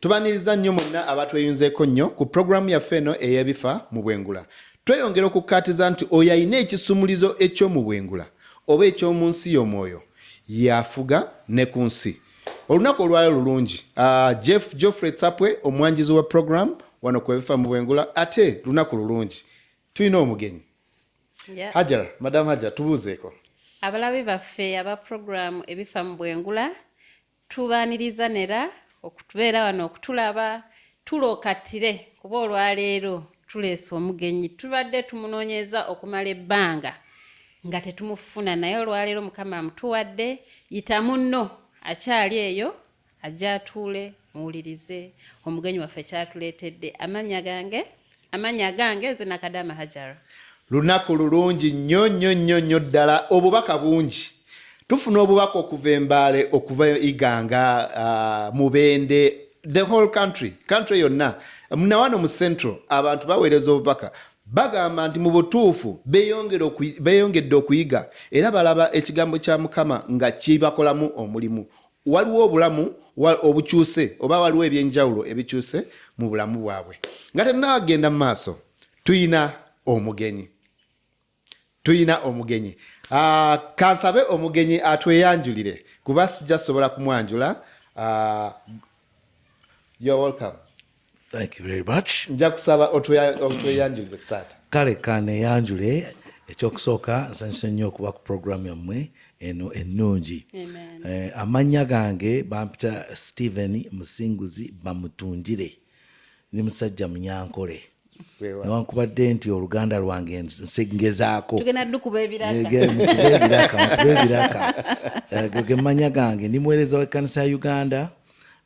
tubaniriza nnyo mwenna abatweyunzeeko nnyo ku pulogulaamu yaffe eno ey'ebifa mu bwengula tweyongera okukkaatiza nti oyo alina ekisumulizo eky'omu bwengula oba eky'omu nsi y'omwoyo yafuga ne ku nsi olunaku olwali lulungi ah, jeff geoffrey tsapwe omwanjizi wa pulogulaamu wano ku ebifa mu bwengula ate lunaku lulungi tulina omugenyi hajara madamu hajara tubuuzeeko abalabi baffe aba puroguramu ebifa mu bwengula tubaaniriza nera okutubeera wano okutulaba tulookatire kuba olwaleero tuleese omugenyi tubadde tumunoonyeza okumala ebbanga nga tetumufuna naye olwaleero mukama amutuwadde yita munno akyali eyo ajja atuule muwulirize omugenyi waffe kyatuleetedde amannya gange amannya gange nze nakadaama hajara lunaku lulungi nnyo nnyo nnyo nnyo ddala obubaka bungi tufuna obubaka okuva embaale okuva iganga uh, mubende the whole country country yonna nawano mu central abantu baweereza obubaka bagamba nti mu butuufu beyongedde okuyiga era balaba ekigambo kya mukama nga kibakolamu omulimu waliwo obulamu obukyuse oba waliwo ebyenjawulo ebikyuse mu bulamu bwabwe nga tenagenda mu maaso tuyina omugenyi tuyina omugenyi ah, kansabe omugenyi atweyanjulire kuba sijja sobola kumwanjula ah, nja kusaba otweyanjulire sitaata kale kaneyanjule ekyokusooka nsanyuse nnyo okuba ku puroguramu yammwe eno ennungi eh, amannya gange bampita stephen musinguzi bamutundire ni musajja munyankole newankubadde nti oluganda lwange ngezaako ebiraka eh, gemanya gange ndi muweereza w'ekkanisa ya uganda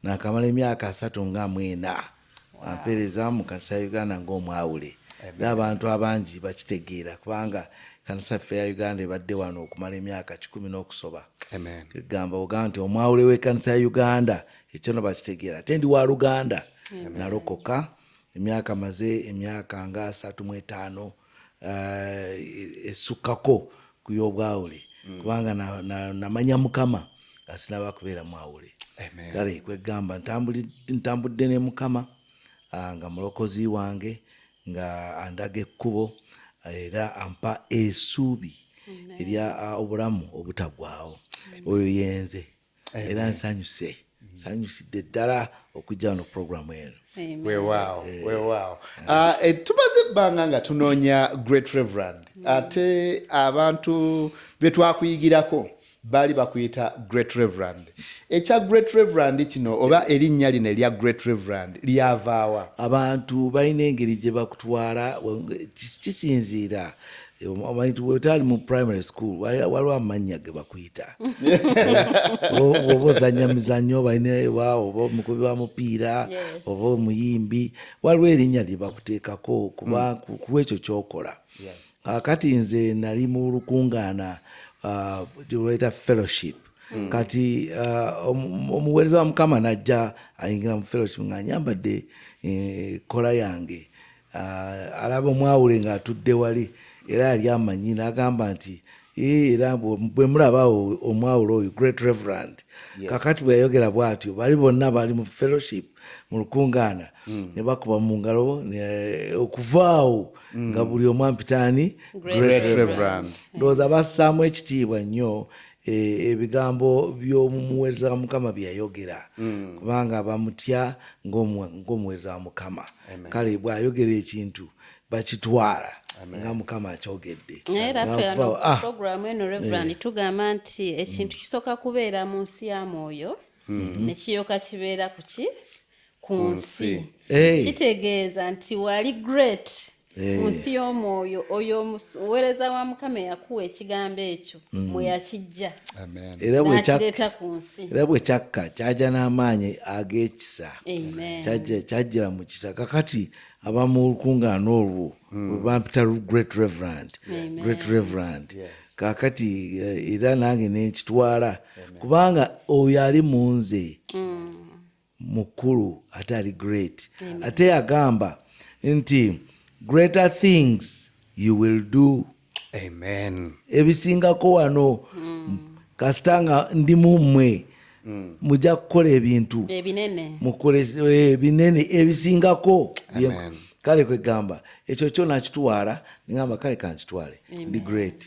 nakamala emyaka asatu nga mwena ampeereza mu kanisa ya Uganda ng'omwawule era abantu abangi bakitegeera kubanga kanisa ffe ya Uganda ebadde wano okumala emyaka kikumi n'okusoba egamba ogamba nti omwawule w'ekanisa ya Uganda ekyono bakitegeera ate ndi wa luganda nalokoka emyaka maze emyaka nga asatu mu etaano eh, esukkako ku y'obwawule mm. kubanga namanya mukama nga sinaba kubeera mwawule kale kwegamba ntambudde ne mukama ah, nga mulokozi wange nga andaga ekkubo era ampa esuubi erya ah, obulamu obutagwawo oyo yenze era nsanyuse sanyusidde ddala okujja wano puroguramu eno wewaawo eh. wewaawo ah, eh, tumaze ebbanga nga tunoonya great reverand mm. ate abantu be twakuyigirako baali bakuyita great reverand ekya great reverand kino oba erinnya lino erya great reverand lyavaawa abantu balina engeri gye bakutwala kisinziira omanyi wetaali mu primary school waliwo amannya ge bakuyita oba ozanya mizanyo oba inewa oba omukubi wa mupiira oba omuyimbi waliwo erinnya lye bakuteekako kuba mm. kulwekyo kyokola ah, kati nze nali mu lukungaana ah, lweta fellowship mm. kati ah, omuweereza wa mukama najja ayingira mu fellowship nga nyambadde eh, kola yange Ah, alaba omwawule ng'atudde wali era yali amanyi n'agamba nti era bwe mulabaawo omwawule oyo great reverand kakati bwe yayogera bw'atyo bali bonna baali mu fellowship mu lukungaana hmm. ne bakuba mu ngalo okuvaawo hmm. nga buli omu ampitaani great reverand ndowooza bassaamu ekitiibwa nnyo e, ebigambo by'omuweereza wa mukama bye yayogera mm. kubanga bamutya ng'omuweereza wa mukama kale bw'ayogera ekintu bakitwala nga mukama akyogedde naye rafeprogramu ah. eno reverand eh. tugamba nti ekintu mm. kisooka kubeera mu nsi ya mwoyo mm-hmm. nekiyoka kibeera ku ki ku nsi kitegeeza nti wali great eh. ku nsi y'omwoyo oyo omuweereza wa mukama eyakuwa ekigambo ekyo mm. mwe yakijja nakireeta ku nsi era bwe kyakka kyajja n'amaanyi ag'ekisa kyajjira mu kisa kakati abamukungaana olwo mm. bwe bampita great reverand great reverand kakati eh, era nange nenkitwala kubanga oyo ali mu nze mm. mukulu ate ali great ate yagamba nti greater things you will do amen ebisingako wano mm. kasita nga ndi mu mmwe mm. mujja kukola ebintu ebinene eh, ebisingako kale kwegamba ekyo kyo nakitwala ngamba kale kankitwale ndi great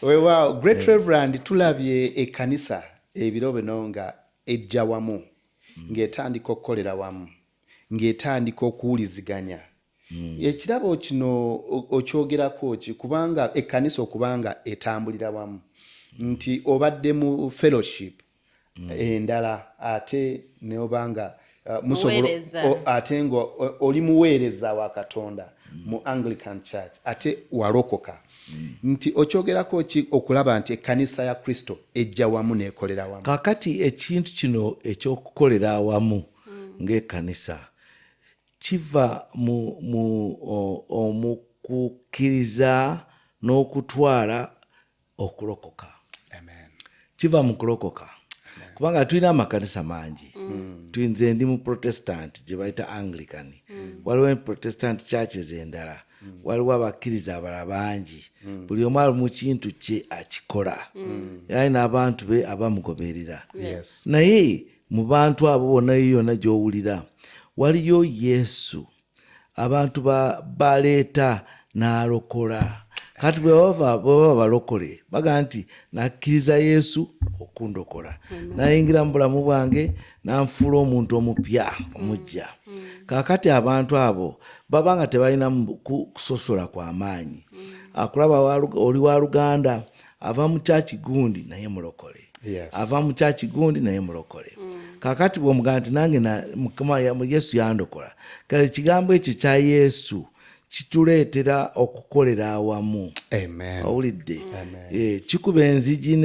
wewaawo great reverand tulabye ekkanisa ebiro bino nga ejja wamu mm. ng'etandika okukolera wamu ng'etandika okuwuliziganya Hmm. ekirabo kino okyogerako ki kubanga ekkanisa okubanga etambulira wamu nti obadde mu fellowship endala ate neoba nga uh, musobola ate nga oli muweereza wa katonda mu anglican church ate walokoka nti okyogerako ki okulaba nti ekkanisa ya kristo ejja wamu nekolera wamu kakati ekintu kino ekyokukolera awamu ngaekkanisa kiva mu, mu omukukkiriza n'okutwala okulokoka kiva mu kulokoka kubanga tulina amakanisa mangi mm. nze ndi mu protestant gye bayita anglican mm. waliwo protestant churches endala mm. waliwo abakkiriza abala bangi buli omu ali mu kintu kye akikola yaye n'abantu be abamugoberera naye mu bantu abo bona yona gy'owulira waliyo yesu abantu baleeta n'alokola kati bwebaba balokole baga nti nakkiriza yesu okundokola nayingira mu bulamu bwange nanfuula omuntu omupya omujja mm. kakati abantu abo baba nga tebalina kusosola kwa maanyi mm. akulaba oli wa luganda ava mu kyaki gundi naye mulokole ava mu kyaki gundi naye mulokole mm. kakati bwomugamba nti nange mukama yesu yandokola kale ekigambo ekyo kya yesu kituleetera okukolera awamu owulidde eh, kikuba enzigi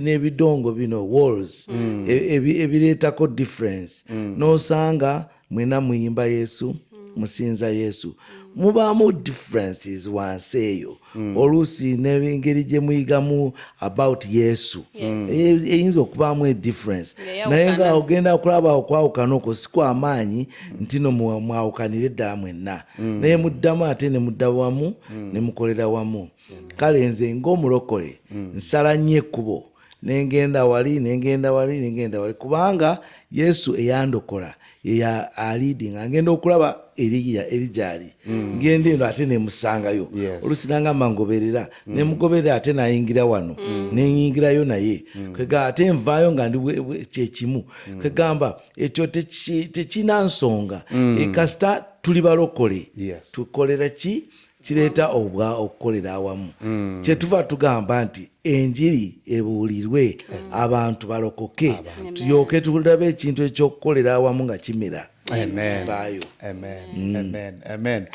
n'ebidongo bino walls mm. e, ebireetako difference mm. n'osanga mwena muyimba yesu musinza yesu mubaamu differences wansi eyo mm. oluusi nengeri gye muyigamu about yesu eyinza okubaamu edifference naye nga ogenda okulaba okwawukana okwo si kwamaanyi ntino mwawukanire ddala mwenna mm. naye muddamu ate ne mudda wamu mm. ne mukolera wamu kale nze ngaomulokole mm. nsala nnyo ekkubo nengenda wali nengenda wali nengenda wali kubanga yesu eyandokola yeya alidi nga ngenda okulaba eri gyali mm. ngenda eno ate nemusangayo olusi nangamba ngoberera mm. nemugoberera ate nayingira wano mm. neyingirayo naye kwega ate nvaayo nga ndi kyekimu kwegamba ekyo tekina nsonga e, kasita tuli balokole tukolera ki kireeta obwa okukolera awamu hmm. kyetuva tugamba nti enjiri ebuulirwe hmm. abantu balokoke tulyoke tulabe ekintu ekyokukolera awamu nga kimera kivaayo hmm.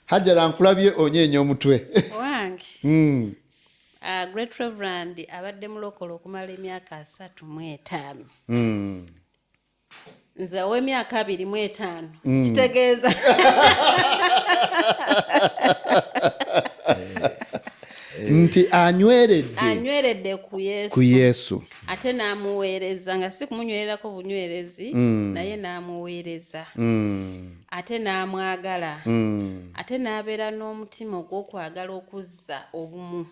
hajara nkulabye onyeenya omutwe Uh, great reverend abadde mulokole okumala emyaka asatu mu etaano mm. nze ow'emyaka abiri mu etaano mm. kitegeeza nti anyweredde anyweredde ku yesu ate n'amuweereza nga si kumunywererako bunywerezi mm. naye n'amuweereza mm. ate n'amwagala mm. ate n'abeera n'omutima ogw'okwagala okuzza obumu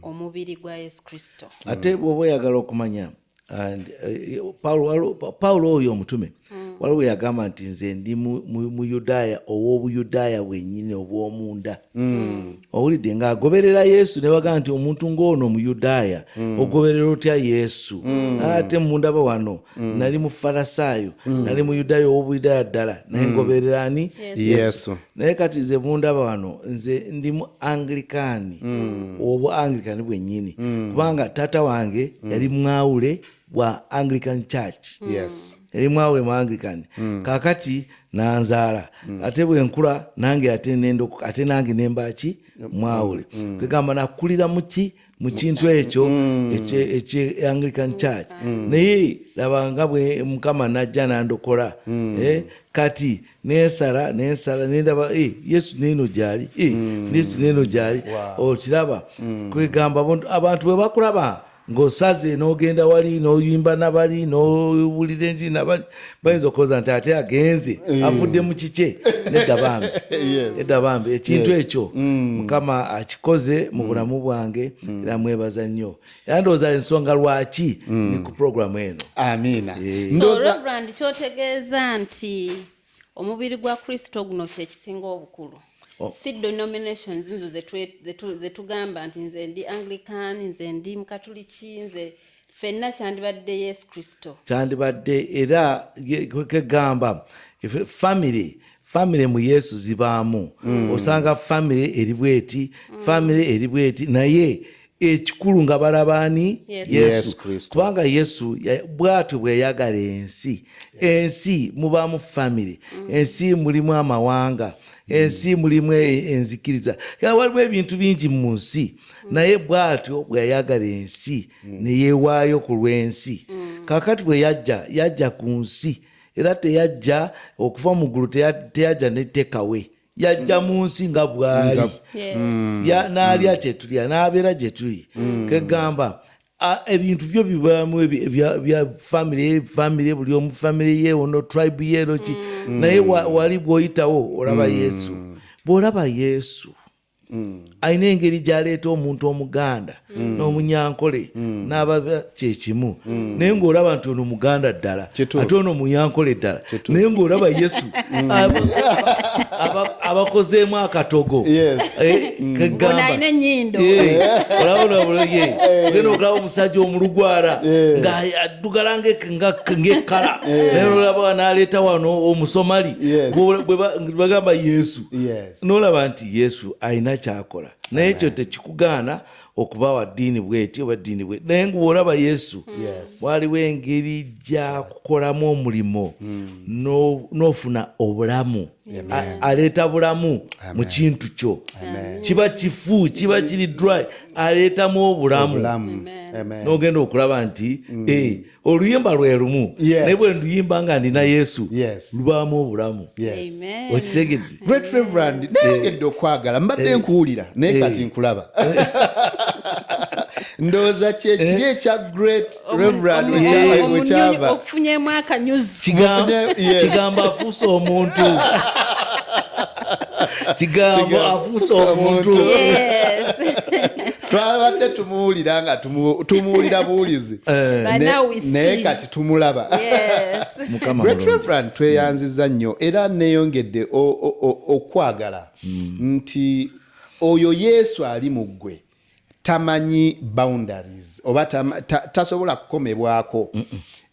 omubiri gwa yesu kristo ate bw'oba oyagala okumanya and eh, eh, Paulo waliwo- Pa- Paulo oyo omutume waliwo bwe yagamba nti nze ndi mu- mu- muyudaaya ow'obuyudaaya bwennyini obw'omunda owulidde ng'agoberera yesu ne bagamba nti omuntu ng'ono omuyudaaya ogoberera otya yesu ate mundaba wano nali mufarasaayo nali muyudaaya ow'obuyudaaya ddala naye ngoberera ani Yesu. naye kati nze bundaba wano nze ndi mu anglikani mm. obwa anglikani bwennyini mm. kubanga taata wange mm. yali mwawule bwa anglican church yes. yali mwawule mu anglican mm. kakati nanzaala mm. ate bwenkula nange ate nange nembaki mwawule mm. kwegamba nakulira muki mu kintu ekyo mm. ekye anglican church mm. naye laba nga bwe mukama najja nandokola mm. eh, kati nensala nensala nendaba eh, yesu neno gyali eh, yesu neno gyali okiraba kwegamba abantu bwe bakulaba ng'osaze n'ogenda wali n'oyimba nabali n'owulira enjiri nabali bayinza okukoza nti ate agenze mm. avudde mu kikye nedda bambi nedda bambi ekintu ekyo mm. mukama akikoze mu mm. bulamu bwange era mwebaza nnyo era ndowooza ensonga lwaki ni ku programu eno amiina kyotegeeza nti omubiri gwa kristo guno kyekisinga obukulu Oh. si denominations nzo zetugamba nti nze ndi anglican nze ndi mukatuliki nze fenna kyandibadde yesu kristo kyandibadde era kegamba famire famire mu yesu zibaamu mm. osanga famire eri bweti mm. famire eri bweti naye ekikulu nga balabaani yesu kubanga yesu bwatyo bweyagala ensi ensi mubaamu famiry mm. ensi mulimu amawanga ensi mm. mulimu e, enzikiriza waliwo ebintu bingi mu nsi mm. naye bwatyo bweyagala ensi mm. ne yeewaayo ku lw'ensi mm. kakati bwe yajja yajja ku nsi era teyajja okuva mu ggulu teyajja ne tekawe yajja mm. mu nsi nga bw'ali mm. n'alya mm. kyetulya n'abeera gye tuli mm. kegamba ebintu byo bibamu bya famire famire buli omu famire ye ono tribe ye eroki mm. naye wali bwoyitawo olaba mm. yesu bwolaba yesu alina engeri gyaleeta omuntu omuganda mm. n'omunyankole mm. n'ababa kyekimu mm. naye ng'olaba nti ono muganda ddala ate ono munyankole ddala naye ng'olaba yesu abakozeemu akatogo eh, kegambaaolabolabuloye eh, eh. ogenda okulaba omusajja omulugwara ng'addugala ng'ekkala naye olaba n'aleeta wano omusomali bwebagamba yesu n'olaba nti yesu alina kyakola naye ekyo tekikugaana okuba wa ddiini bweti oba ddiini bwe naye nga olaba yesu waliwo engeri gyakukolamu omulimu hmm. n'ofuna obulamu aleeta bulamu mu kintu kyo kiba kifu kiba kiri dry aleetamu obulamu n'ogenda okulaba nti hmm. eh, oluyimba lwe lumu naye bwe nduyimba nga ndina yesu lubaamu obulamu okitegedde great reverend nayongedde okwagala mbadde eh. nkuwulira naye eh. kati nkulaba ndowooza kyekiri eh. ekya great reverend wekyava okufunyemu akanyuzi kigambo afuusa omuntu kigambo afuusa omuntu twabadde tumuwulira nga tumuwulira buwulizi eh. naye kati tumulaba tweyanziza nnyo era neyongedde okwagala hmm. nti oyo yesu ali mu ggwe tamanyi boundaries oba tasobola kukomebwako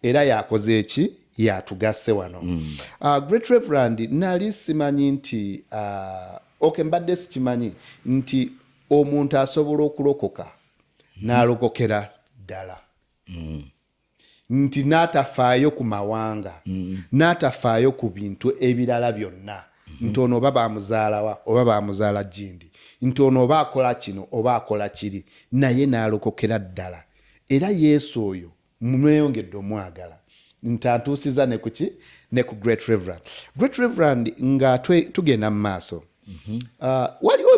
era yakoze eki yatugasse wano mm. uh, great reverand nali simanyi nti uh, ok mbadde sikimanyi nti omuntu asobola okulokoka mm. n'alokokera ddala mm. nti n'atafaayo ku mawanga mm. n'atafaayo ku bintu ebirala byonna mm-hmm. nti ono oba bamuzaalawa oba bamuzaala gindi nti ono oba akola kino oba akola kiri naye n'alokokera ddala era yesu oyo Mweyongedde omwagala nti antuusiza ne kuki ne ku Great Reverend. Great Reverend nga tugenda mu maaso mhm. uh, waliwo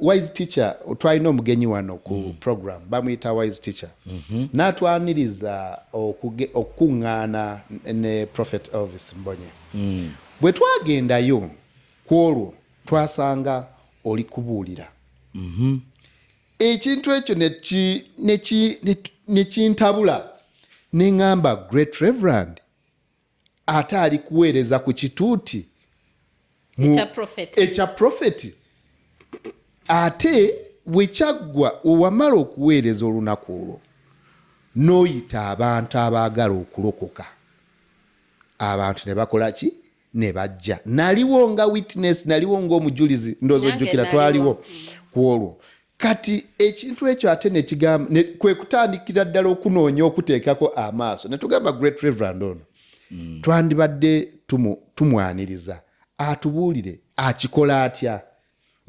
wise teacher twalina omugenyi wano ku mm. program bamuyita wise teacher mhm. n'atwaniriza okukuŋŋaana ne Prophet Elvis Mbonye mm. bwe twagendayo ku olwo twasanga oli kubuulira mhm. ekintu ekyo ne kintabula ne ŋŋamba great reverand ate ali kuweereza ku kituuti ekya profeti ate bwe kyaggwa owamala okuweereza olunaku olwo n'oyita abantu abaagala okulokoka abantu ne bakola ki ne bajja naliwo nga witness naliwo ngaomujulizi ndooza ojjukira twaliwo ku olwo kati ekintu ekyo ate nekigamba kwe kutandikira ddala okunoonya okuteekako amaaso ne tugamba great reverand ono mm. twandibadde tumwaniriza atubuulire akikola atya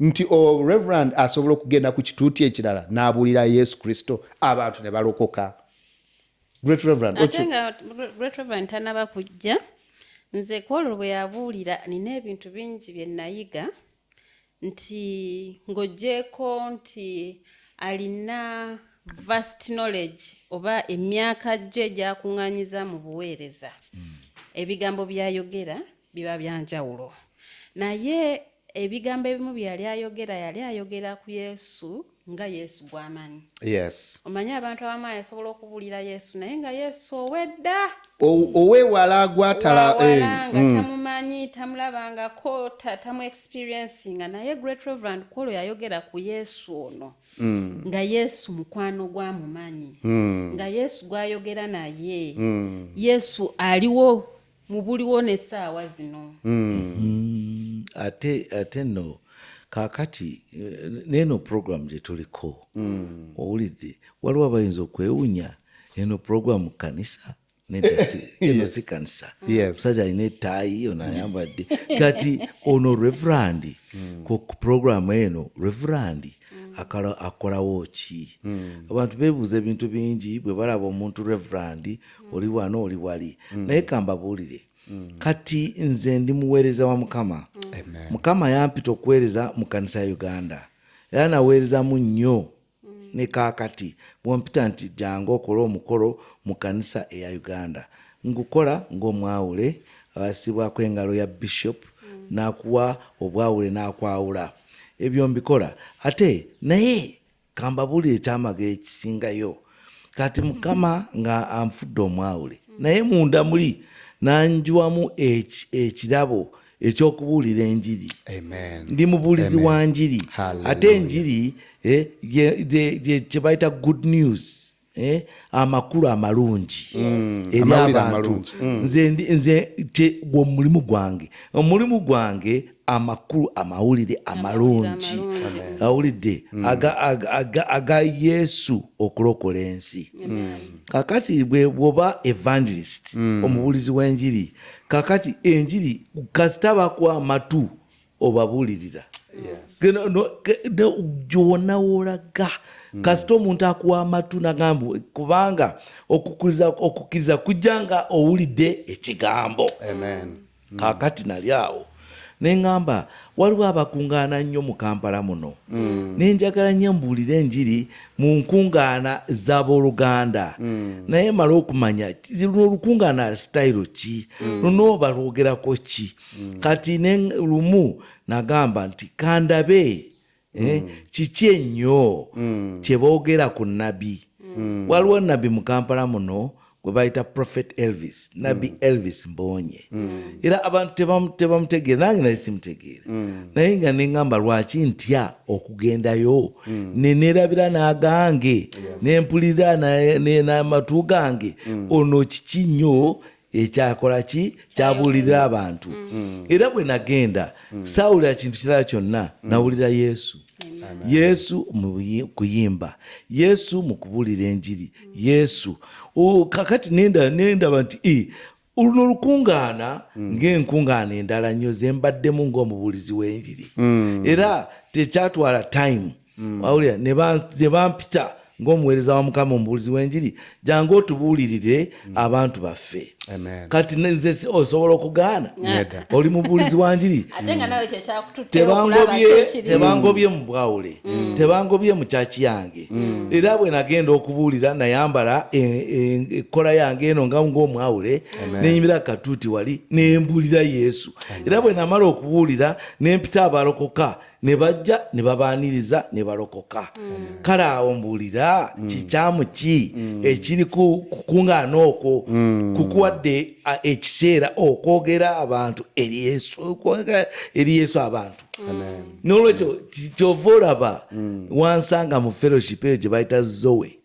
Nti o, Reverend asobola okugenda ku kituuti ekirala n'abuulira Yesu Kristo, abantu ne balokoka. Great Reverend. Ate nga Great Reverend tanaba kujja, nze kwolwo bwe yabuulira nina ebintu bingi bye nayiga nti ng'oggyeeko nti alina vast knowledge oba emyaka gyo egyakuŋŋanyiza mu buweereza hmm. ebigambo byayogera biba byanjawulo naye Ebigambo ebimu bye yali ayogera yali ayogera ku Yesu nga Yesu gw'amanyi. Yes. Omanyi abantu abamu ayasobola okubuulira Yesu naye nga Yesu owedda owewala gwatala eh, nga mm. tamumanyi tamulabangako tamu experiencinga naye Great Reverend Kwolo yayogera ku Yesu ono mm. nga Yesu mukwano gwamumanyi mm. nga Yesu gwayogera naye Yesu aliwo mubuliwo nesaawa zino mm, ate ate no kakati eh, neno program gyetuliko mm. owulidde waliwo abayinza okwewunya eno program kanisa eno si kanisa musajja alina etaayi ono ayambadde kati ono reverandi mm. ku program eno reverandi mm. akala akolawo ki mm. abantu bebuuza ebintu bingi bwe balaba omuntu reverand mm. oli wano oli wali mm. naye kambabuulire mm. kati nze ndi muweereza wa mukama mm. mukama yampita okuweereza mu kanisa ya uganda era naweerezamu nnyo mm. ne kaakati bwompita nti jangu okole omukolo mu kanisa eya uganda ngukola ng'omwawule asibwako engalo ya bishop mm. n'akuwa obwawule n'akwawula ebyo mbikola ate naye kambabuulire ekyamaga ekisingayo kati mukama nga anfudde omwawule naye munda muli nanjiwamu ekirabo eki ekyokubuulira enjiri ndi mubuulizi wa njiri ate enjiri eh, kyebayita good news Eh, amakulu amalungi mm. eri abantu mm. nze gwo mulimu gwange omulimu gwange amakulu amawulire amalungi awulidde mm. aga yesu okulokola ensi kakati bwoba evangelist omubulizi w'enjiri kakati enjiri kasita baku amatu obabuulirira gyona wolaga hmm. kasita omuntu akuwa amatu nagamba kubanga okukkiriza kujja nga owulidde ekigambo hmm. kakati nali awo neŋamba waliwo abakuŋgaana nnyo mu kampala muno hmm. nenjagala nnyo mbuulire enjiri mu nkuŋgaana z'abooluganda naye mala okumanya luno olukuŋgaana sitayiro ki luno obalwogerako ki mm. kati ne lumu nagamba nti kandabe eh, mm. kiki ennyo mm. kyeboogera ku nabi mm. waliwo nabi mu kampala muno gwe bayita prophet elvis nabi mm. elvis mbonye mm. era abantu tebamutegeera nange nali simutegeera mm. naye nga neŋamba lwaki ntya okugendayo mm. nenerabira n'agange yes. nempulira n'amatu gange mm. ono kiki nnyo ekyakola ki kyabuulirira abantu mm. era bwe nagenda mm. saawulira kintu kirala kyonna mm. nawulira yesu yesu mu kuyimba yesu mu kubuulira enjiri yesu kakati nendaba nti oluno olukungaana ng'enkungaana endala nnyo zembaddemu ng'omubuulizi w'enjiri era tekyatwala time mm. wawulira ne bampita ng'omuweereza wa mukama omubuulizi w'enjiri jangu otubuulirire mm. abantu baffe kati nze osobola okugaana oli mubuulizi wa njiri tebangobye mu bwawule mm. tebangobye mu kyaki yange mm. era bwe nagenda okubuulira nayambala e, e, ekkola yange eno nga ng'omwawule nenyimira katuuti wali nembuulira yesu era bwe namala okubuulira nempita abalokoka ne bajja ne babaaniriza ne balokoka kale awo mbuulira mm. kikyamu ki mm. ekiri ku kukuŋŋaana okwo mm. kukuwadde ekiseera okwogera abantu eri yesu eri yesu abantu n'olwekyo kyova olaba wansanga mu fellowship eyo gye bayita zowe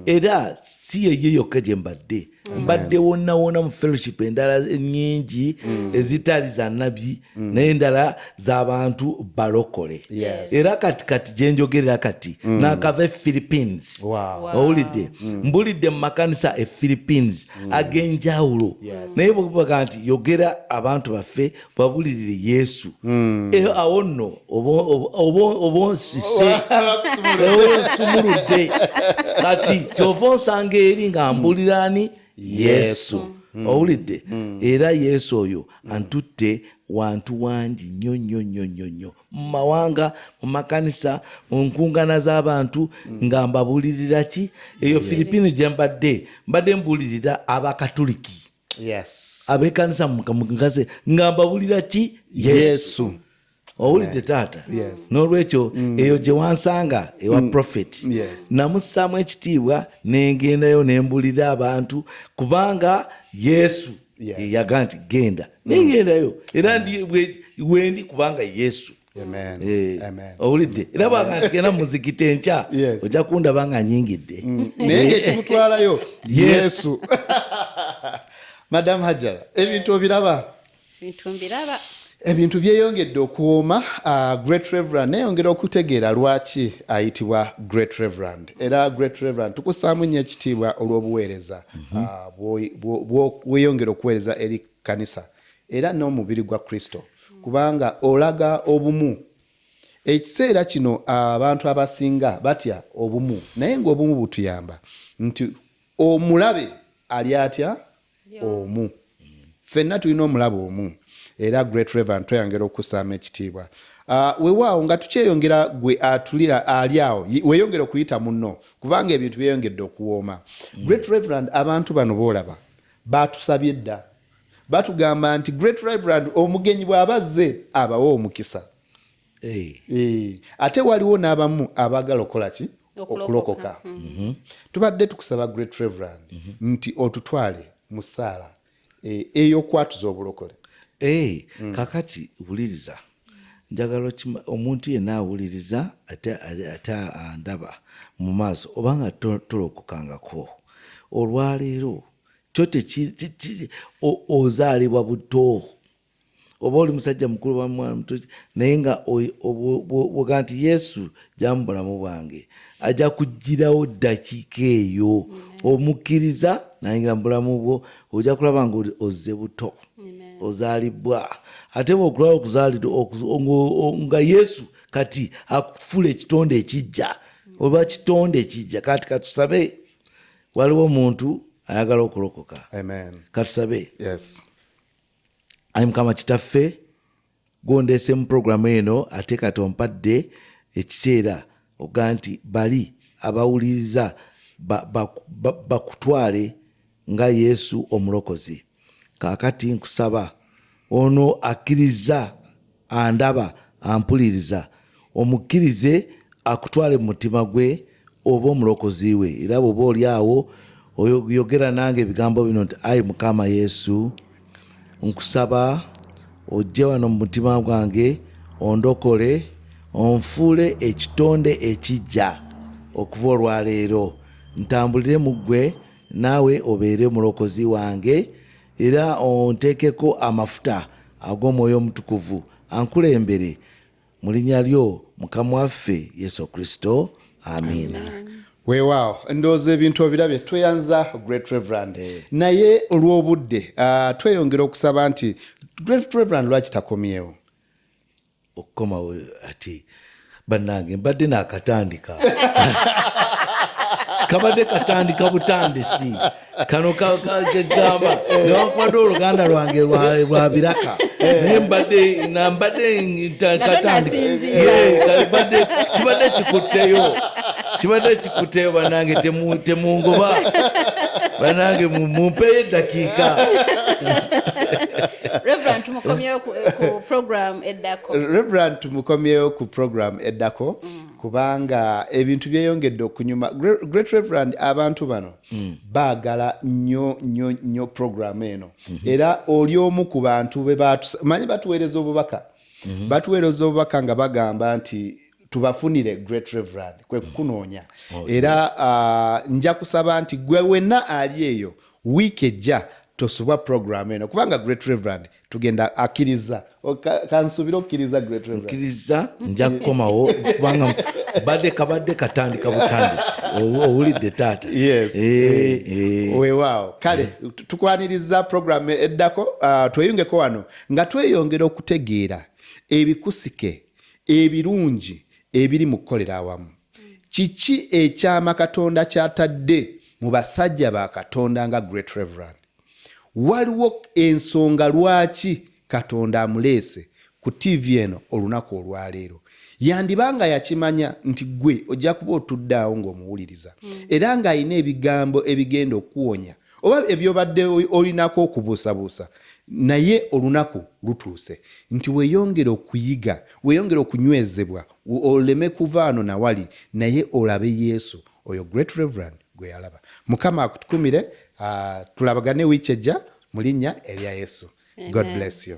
era si yeyo yokka gye mbadde mbadde wonawona mu fellowship endala nyingi mm. ezitaali za nabbi mm. naye endala zabantu balokole era kati kati gyenjogerera kati mm. nakava e philippines owulidde mbulidde mu makanisa e philippines ag'enjawulo naye bwebaga nti yogera abantu baffe babulirire yesu hmm. eh, awo nno oba onsumuludde kati kyova onsanga eri nga mbulirani yesu hmm. owulidde hmm. era yesu oyo antutte wantu wangi nnyo nnyo nnyo nnyo nnyo mu mawanga mu makanisa mu nkungana z'abantu nga mbabulirira ki eyo filipini gye mbadde mbadde mbulirira abakatuliki yes. abekanisa mukazi nga mbabulira ki yesu owulidde taata yes. n'olwekyo mm. eyo gye wansanga ewa mm. profit yes. namussaamu ekitiibwa nengendayo nembulira abantu kubanga yesu yes. yaga nti genda nengendayo era wendi kubanga yesu Eh, owulidde era bwanga ntigenda mumuzikiti enkya ojja kundaba nga nyingidde mm. naye ngaekimutwalayo eh. yesu madamu hajara ebintu obiraba bintu mbiraba ebintu byeyongedde okuwooma uh, great reverand neyongera okutegeera lwaki ayitibwa great reverand era great reverand tukusaamu nnyo ekitiibwa olw'obuweereza mhm. uh, bweyongera okuweereza eri kanisa era n'omubiri gwa Kristo kubanga olaga obumu. Ekiseera kino abantu abasinga batya obumu naye ng'obumu butuyamba nti omulabe ali atya omu. Ffenna tulina omulabe omu era Great Reverend tweyongera okussaamu ekitiibwa. Uh, wewaawo nga tukyeyongera gwe atulira ali awo weyongera okuyita munno kubanga ebintu byeyongedde okuwooma. Mm. Great Reverend abantu bano boolaba baatusabye dda batugamba nti great riverand omugenyi bw'aba azze abawa omukisa eh. Eh, ate waliwo n'abamu abaagala okukola ki okulokoka hmm. mhm. tubadde tukusaba great riverand mhm. nti otutwale mu ssaala eh, ey'okwatuza obulokole hmm. kakati wuliriza njagala omuntu yenna awuliriza ate andaba mu maaso obanga tolokokangako olwaleero kyo ozaalibwa buto oba oli musajja mukulu bamwana muto naye nga bwoga nti yesu jamu bulamu bwange ajja kugirawo ddakiika eyo omukkiriza nayingira mu bulamu bwo ojja kulaba nga ozze buto ozaalibwa ate bwokulaba okuzaalidwa nga yesu kati akufula ekitonde ekijja oba kitonde ekijja kati katusabe waliwo omuntu ayagala okulokoka katusabe ayi mukama kitaffe gwondeese mu puroguramu eno ate kati ompadde ekiseera oga nti bali abawuliriza bakutwale ba, ba nga yesu omulokozi Kaakati nkusaba, ono akkirizza, andaba, ampuliriza, omukkirize Akutwale mu mutima gwe, obe Omulokozi we. Era bw'oba oli awo, oyo, yogera nange ebigambo bino nti, Ayi Mukama Yesu, nkusaba ojje wano mu mutima gwange, ondokole, onfuule ekitonde ekiggya okuva olwaleero, ntambulire mu ggwe, Naawe obeere omulokozi wange era onteekeko amafuta ag'Omwoyo Omutukuvu ankulembere, mu linnya lyo Mukama waffe Yesu Kristo. Amiina. Weewaawo, ndowooza ebintu obirabye. Tweyanza Great Reverend, eh. naye olw'obudde ah, tweyongera okusaba nti Great Reverend lwaki takomyewo? okukomawo ati bannange mbadde naakatandika kabadde katandika butandisi kano kyegamba newankubadde oluganda lwange lwa biraka naye mbadde nambadde katandikabadde kibadde kikutteyo kibadde kikutteyo banange temungoba banange mumpeyo eddakiika mukomyewo ku, eh, ku program eddako reverend tumukomyewo ku program eddako kubanga ebintu byeyongedde okunyuma Gre- great reverend abantu bano baagala nnyo nnyo nnyo program eno era oli omu ku bantu be baatusa- manyi batuweereza obubaka batuweereza obubaka nga bagamba nti tubafunire great reverend kwe kukunoonya era ah, nja kusaba nti gwe wenna ali eyo Week ejja tosubwa program eno kubanga great reverend tugenda akiriza kansubira okukiriza great reverend nkiriza nja kukomawo kubanga badde kabadde katandika butandisi owulidde taata yes eh, eh. wewaawo kale eh. tukwaniriza program eddako uh, tweyungeko wano nga tweyongera okutegeera ebikusike ebirungi ebiri mu kukolera awamu Kiki ekyama Katonda ky'atadde mu basajja ba Katonda nga Great Reverend? Waliwo ensonga lwaki Katonda amuleese ku ttiivi eno olunaku olwa leero. Yandiba nga yakimanya nti ggwe ojja kuba otudde awo ng'omuwuliriza era ng'alina ebigambo ebigenda okukuwonya oba ebyobadde olinako okubuusabuusa naye olunaku lutuuse nti weyongere okuyiga weyongere okunywezebwa oleme kuvaano nawali naye olabe yesu oyo great reverend gwe yalaba mukama akutukumire uh, tulabagane wiiki ejja mu linnya erya yesu god bless you